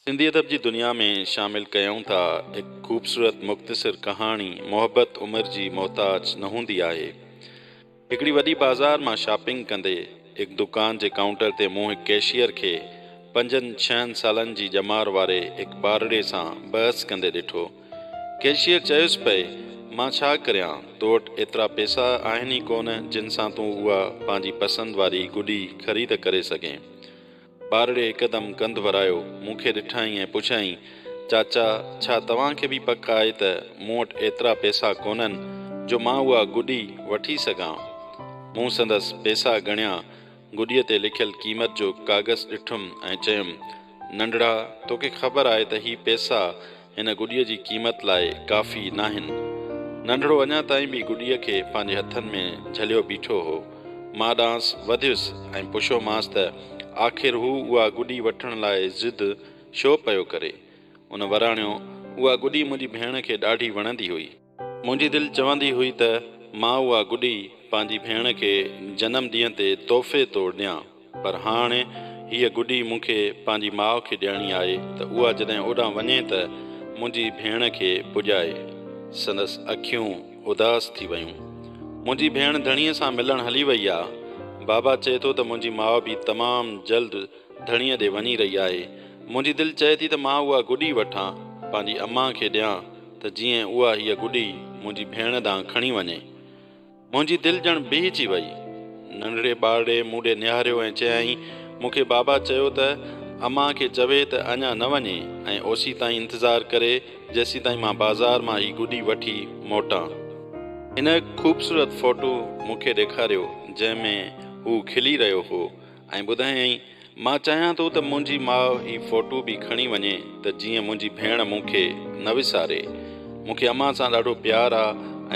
سنڌي ادب جي دنيا ۾ شامل ڪيائون ٿا هڪ خوبصورت مختصر ڪهاڻي محبت عمر جي محتاج نه هوندي آهي هڪڙي وڏي بازار مان شاپنگ ڪندي هڪ دڪان جي ڪائونٽر تي مون هڪ ڪيشيئر کي پنجن ڇهن سالن جي ڄمار واري هڪ ٻارڙي سان بحث ڪندي ڏٺو ڪيشيئر چيس پئي مان ڇا ڪريان تو وٽ ايترا پيسا آهن ئي ڪونه جن سان تون اها پنهنجي پسند واري گڏي خريد ڪري سگهين ٻارڙي هڪدم ڪنڌ ورايو، مون کي ڏٺائين ۽ پڇيائين، چاچا، ڇا توهان کي به پڪ آهي ته مون وٽ ايترا پئسا ڪونهن جو مان اها گڏي وٺي سگهان؟ مون سندس پئسا ڳڻيا، گڏيء تي لکيل قيمت جو ڪاغذ ڏٺم ۽ چيم، ننڍڙا، توکي خبر آهي ته هي پئسا هن گڏيء جي قيمت لاء ڪافي ناهن. ننڍڙو اڃا تائين به گڏيء کي پنهنجي هٿن ۾ جهليو بيٺو هو. مان ڏانهس وڌيس ۽ پڇيومانس ته آخر هو اها گڏي وٺڻ لاء ضد ڇو پيو ڪري؟ ان وراڻيو، اها گڏي منهنجي ڀيڻ کي ڏاڍي وڻندي هئي. منهنجي دل چوندي هئي ته مان اها گڏي پنهنجي ڀيڻ کي جنم ڏينهن تي تحفي طور ڏيان پر هاڻ هيء گڏي مون کي پنهنجي ماء کي ڏيڻي آهي ته اها جڏهن اوڏانهن وڃي ته منهنجي ڀيڻ کي پڄائي. سندس اکيون اداس ٿي ويون. منهنجي ڀيڻ ڌڻيء سان ملڻ هلي وئي آ. بابا چئي ٿو ته منهنجي ماء به تمام جلد ڌڻيء ڏي وڃي رهي آهي. منهنجي دل چئي ٿي ته مان اها گڏي وٺان پنهنجي امان کي ڏيان. ته جيئن اها هيء گڏي منهنجي ڀيڻ ڏانهن کڻي وڃي. منهنجي دل ڄڻ بيهجي ويئي. ننڍڙي ٻارڙي مون ڏي نهاريو ۽ چيائين، مون کي بابا چيو ته امان کي چوي ته اڃا نه وڃي ۽ اوسيتائين انتظار ڪري جيسيتائين مان بازار مان هي گڏي وٺي موٽان. هن هڪ خوبصورت فوٽو مون کي ڏيکاريو جنهن ۾ هو کلي رهيو هو. ۽ ٻڌايائين، مان چاهيان ٿو ته منهنجي ماء هي فوٽو به کڻي وڃي ته جيئن منهنجي ڀيڻ مون کي نه وساري. مون کي امان سان ڏاڍو پيار آ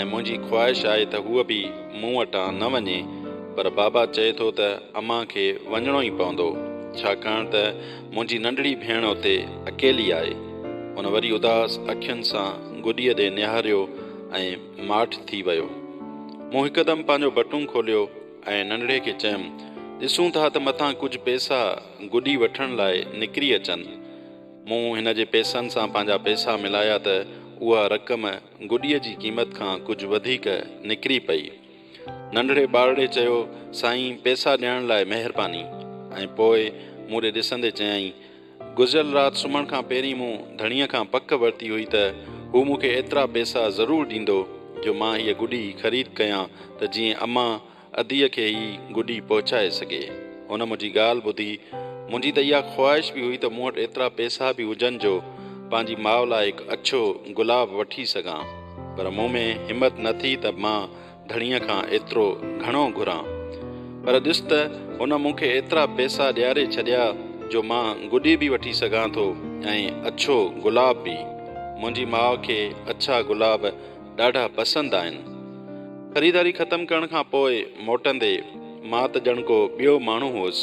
۽ منهنجي خواهش آهي ته هوء به مون وٽان نه وڃي پر بابا چئي ٿو ته امان کي وڃڻو ئي پوندو ڇاڪاڻ ته منهنجي ننڍڙي ڀيڻ اتي اڪيلي آهي. هن وري اداس اکين سان گڏيء ڏي نهاريو ۽ ماٺ ٿي ويو. مون هڪدم پنهنجو بٽون کوليو. ۽ ننڍڙي کي چيم، ڏسون ٿا ته متان ڪجهه پئسا گڏي وٺڻ لاء نڪري اچن. مون هن جي پئسن سان پنهنجا پئسا ملايا ته اها رقم گڏيء جي قيمت کان ڪجهه وڌيڪ نڪري پئي. ننڍڙي ٻارڙي چيو، سائين پئسا ڏيڻ لاء مهرباني. ۽ پوء مون ڏي ڏسندي چيائين، گذريل رات سمهڻ کان پهرين مون ڌڻيء کان پڪ ورتي هئي ته هو مون کي ايترا پئسا ضرور ڏيندو جو مان هيء گڏي خريد ڪيان ته جيئن امان اديء کي هي گڏي پهچائي سگهي. هن منهنجي ڳالهه ٻڌي. منهنجي ته اها خواهش به هئي ته مون وٽ ايترا پئسا به هجن جو پنهنجي ماء لاء هڪ اڇو گلاب وٺي سگهان. پر مون ۾ همت نه ٿي ته مان ڌڻيء کان ايترو گهڻو گهران، پر ڏس ته هن مون کي ايترا پئسا ڏياري ڇڏيا جو مان گڏي به وٺي سگهان ٿو ۽ اڇو گلاب به. منهنجي ماء کي اڇا گلاب ڏاڍا پسند آهن. خريداري ختم ڪرڻ کان پوء موٽندي، مان ته ڄڻ ڪو ٻيو ماڻهو هئس.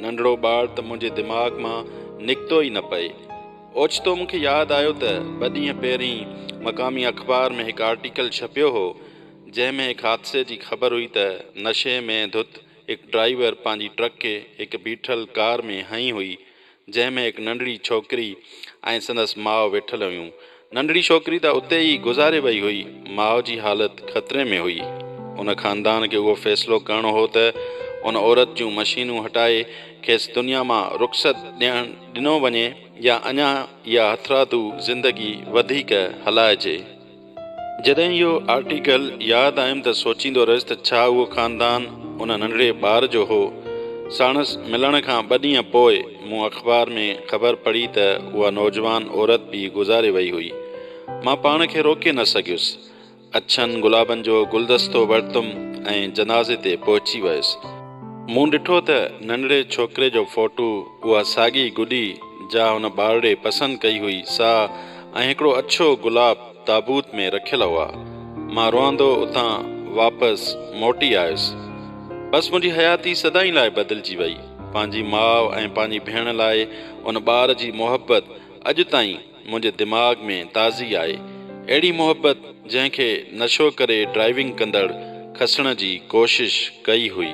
ننڍڙو ٻار ته منهنجي دماغ مان نڪتو ئي نه پئي. اوچتو مون کي ياد آيو ته ٻه ڏينهن پهرين مقامي اخبار ۾ هڪ آرٽيڪل ڇپيو هو، جنهن ۾ هڪ حادثي جي خبر هئي ته نشي ۾ ڌت هڪ ڊرائيور پنهنجي ٽرڪ کي هڪ بيٺل ڪار ۾ هنئي هئي، جنهن ۾ هڪ ننڍڙي ڇوڪري ۽ سندس ماء ويٺل هيون. ننڍڙي ڇوڪري ته اتي ئي گذاري وئي هئي، ماء جي حالت خطري ۾ هئي. ان خاندان کي اهو فيصلو ڪرڻو هو ته ان عورت جون مشينون هٽائي کيس دنيا مان رخصت ڏيڻ، ڏنو وڃي يا اڃا اها هٿرادو زندگي وڌيڪ هلائجي. جڏهن اهو آرٽيڪل ياد آيم ته سوچيندو رهيس ته ڇا اهو خاندان ان ننڍڙي ٻار جو هو؟ ساڻس ملڻ کان ٻه ڏينهن پوء مون اخبار ۾ خبر پڙهي ته اها نوجوان عورت به گذاري وئي هئي. مان پاڻ کي روڪي نه سگهيس. اڇن گلابن جو گلدستو ورتم ۽ جنازي تي پهچي ويس. مون ڏٺو ته ننڍڙي ڇوڪري جو فوٽو، اها ساڳي گڏي جا ان ٻارڙي پسند ڪئي هئي، سا ۽ هڪڙو اڇو گلاب تابوت ۾ رکيل هئا. مان روئندو اتان واپس موٽي آيس. بس منهنجي حياتي سدائين لاء بدلجي وئي. پنهنجي ماء ۽ پنهنجي ڀيڻ لاء ان ٻار جي محبت اڄ تائين منهنجي دماغ ۾ تازي آئي اهڙي محبت جنهن کي نشو ڪري ڊرائيونگ ڪندڙ کسڻ جي ڪوشش ڪئي هئي.